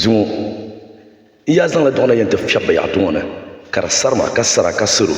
Zuŋɔ, n yaa zaŋla duɣu na yɛn ti fiɛbi bayaɣiti ŋɔ ni ka di sari ma, ka sara ka saro,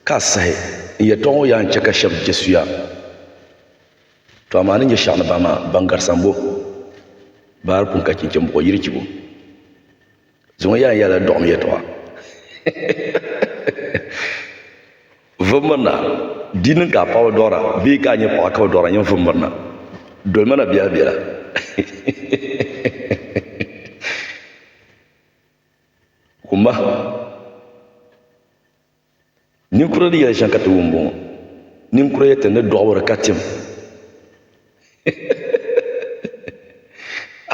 ka a sahi n yɛtɔɣa ŋɔ yaa n-chɛ ka shɛb je suya. Tɔ amaa ni nya shɛɣu ni bahi maa, baŋ garisi ambo, bahi di pun ka chinchini buɣ yirichibo. Zuŋɔ yaa yɛla dɔɣim yɛtɔɣa. Vummirina, di niŋ ka a paɣiba dɔɣira bee ka a nyɛ paɣa ka bi dɔɣira nyini vummirina? Doli ma na bɛ a bela. Kumba. Ninkura ni yɛli shɛŋa ka ti wum bɔŋɔ. Ninkura yɛli ti ni dɔɣiri ka tim.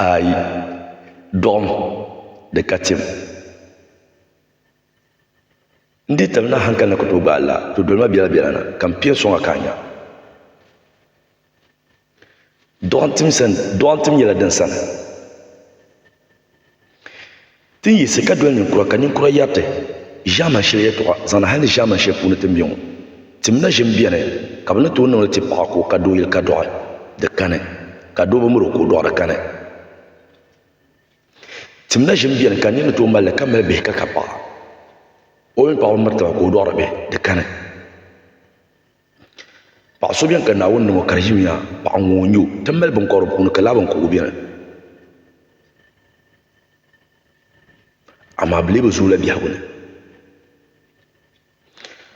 Ayi, dɔɣim di ka tim. N dii tam la hankali ni ka tooi gbaai laa, to doli ma biɛla biɛla na ka m piɛ n sɔŋ a ka a nya. Dɔɣintim nyɛla din sani ti ni yiɣisi ka doli ninkura ka ninkura yɛri ti ʒiɛman shɛli yɛltɔɣa zaŋdi hali ni ʒiɛman shɛli puuni ti ni be ŋɔ. Timina ʒim beni ka bɛ ni tooi niŋ li ti paɣa ka o ka doo yili ka dɔɣi di kani ka doo bi miri o ka o dɔɣi di kani. Timina ʒim beni ka niriba tooi mali li ka mali bihi ka ka paɣa o mini paɣa bi miri taba ka o dɔɣi di bihi di kani. Paɣa so biɛni ka Naawuni niŋ o ka di ʒimiya paɣa ŋun o nyɛ o ti ni mali binkobiri puuni ka laa binkobigu biɛni amaa bi lee bi zooi la biɛhigu ni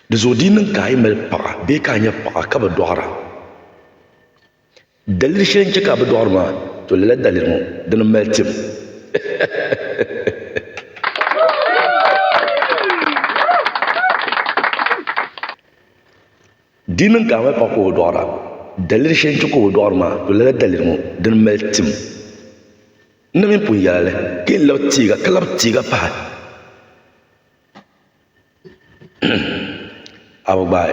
dinzuɣu di yi niŋ ka a yi mali paɣa bee ka a nyɛ paɣa ka bi doɣara Daliri sheli n che ka a bi doɣiri maa to lala daliri ŋɔ dini m mali tim. Di niŋ ka a mali paɣa ka o bi doɣira. Daliri sheli n che ka o bi doɣiri maa to lala daliri ŋɔ dini m mali tim. N na mini pun yela li ka yen labi teega ka labi teega pahi. A bi gbaai.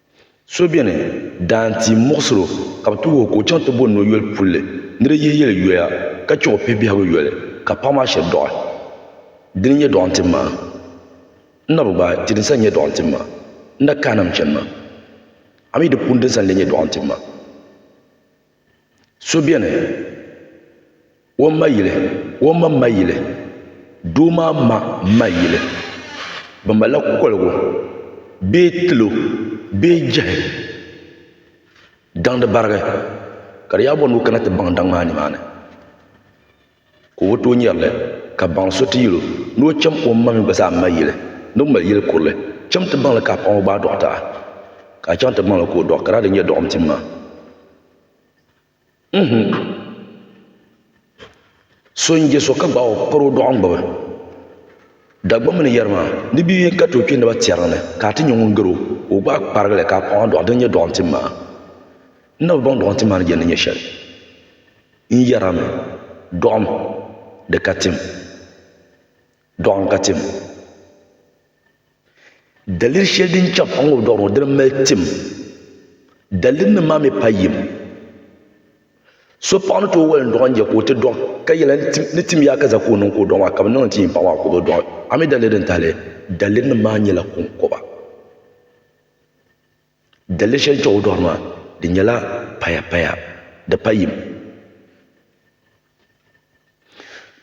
So beni daa n ti muɣisiri o ka bɛ tuhi o ka o chaŋ ti bo ni o yoli pulli ni di yihi yeli yoya ka che o pihi biɛhigu yoli ka paɣa maa shiri dɔɣi. Dini n-nyɛ dɔɣi n-tim ma? N na bi gbaai ti din sa n-nyɛ dɔɣi n-tim ma. N na kahina m-chani ma. A mi di puuni din sa n-lee nyɛ dɔɣi n-tim ma? So beni o ma yili o ma ma yili doo maa ma ma yili bɛ malila koligu bee tilo bee jehi daŋdi barigi ka di yaa bɔni o kana ti baŋ daŋ maa nimaani. Ka o bi tooi nyari li, ka baŋ so ti yɛl o ni o cham o mmaŋmi gba zaa m-mali yili ni o mali yil kurili. Cham ti baŋ li ka a paŋ o gbaai dɔɣita a, ka a chaŋ ti baŋ li ka o dɔɣi, ka daa di nyɛ dɔɣim tim maa. N-hum! So n-je so ka gbaai o kpari o dɔɣim gbubi Dagbaŋ mini yɛri maa, ni bɛ yɛn ka ti o kpe ni ba tiɛriŋ ni, ka a ti nyɛ ŋun gar o, ka o gbaai kparigi li ka a paŋ a dɔɣi, din nyɛ dɔɣim tim maa. N na bi baŋ dɔɣim tim maa ni je ni nyɛ shɛli. N yɛrimi, Dɔɣim, di ka tim. Dɔɣim ka tim. Daliri shɛli din chaŋ a ŋubidɔɣu ni ŋɔ dini m-mali tim. Dalirinim maa mi pa yim. So paɣa ni tooi wali n-dɔɣi n-je ka o ti dɔɣi ka yɛli ni tim yaa ka za ka o niŋ ka o dɔɣi maa ka bɛ niŋ n-ti yim paɣa maa ka o bi dɔɣi. A mi daliri din tahi li? Dalirinim maa nyɛla kɔŋkɔba. Daliri shɛli chaŋ o dɔɣiri maa di nyɛla paya paya di pa yim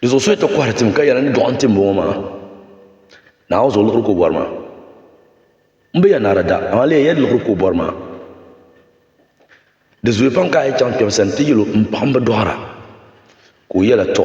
di zuɣu so ti kɔhiri tim ka yɛli ni dɔɣi n tim bɔŋɔ maa naa o zuɣu liɣiri ka o bɔri maa n bi yɛn naara da amaa leei yɛli liɣiri ka o bɔri maa di zuya pam ka a yi chaŋ kpɛm sani ti yɛli o n paɣi n bi dɔɣira ka o yɛla tɔ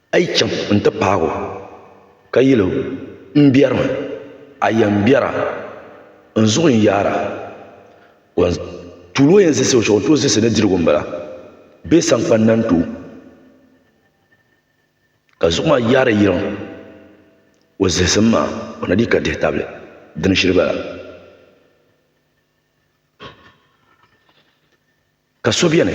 A yi chaŋ n-ti paag o, ka yɛl o, M biɛrimi, a yɛn biɛra, n zuɣu n yaara, wan tuul o yɛn zisi o shɛl o ni tooi zisi ni dirigu m-bala, bee saŋkpani na n-ti o, ka zuɣu maa yaari yiliŋ o zihisim maa, o na dii ka dihi tabili dini shili bala. Ka so beni.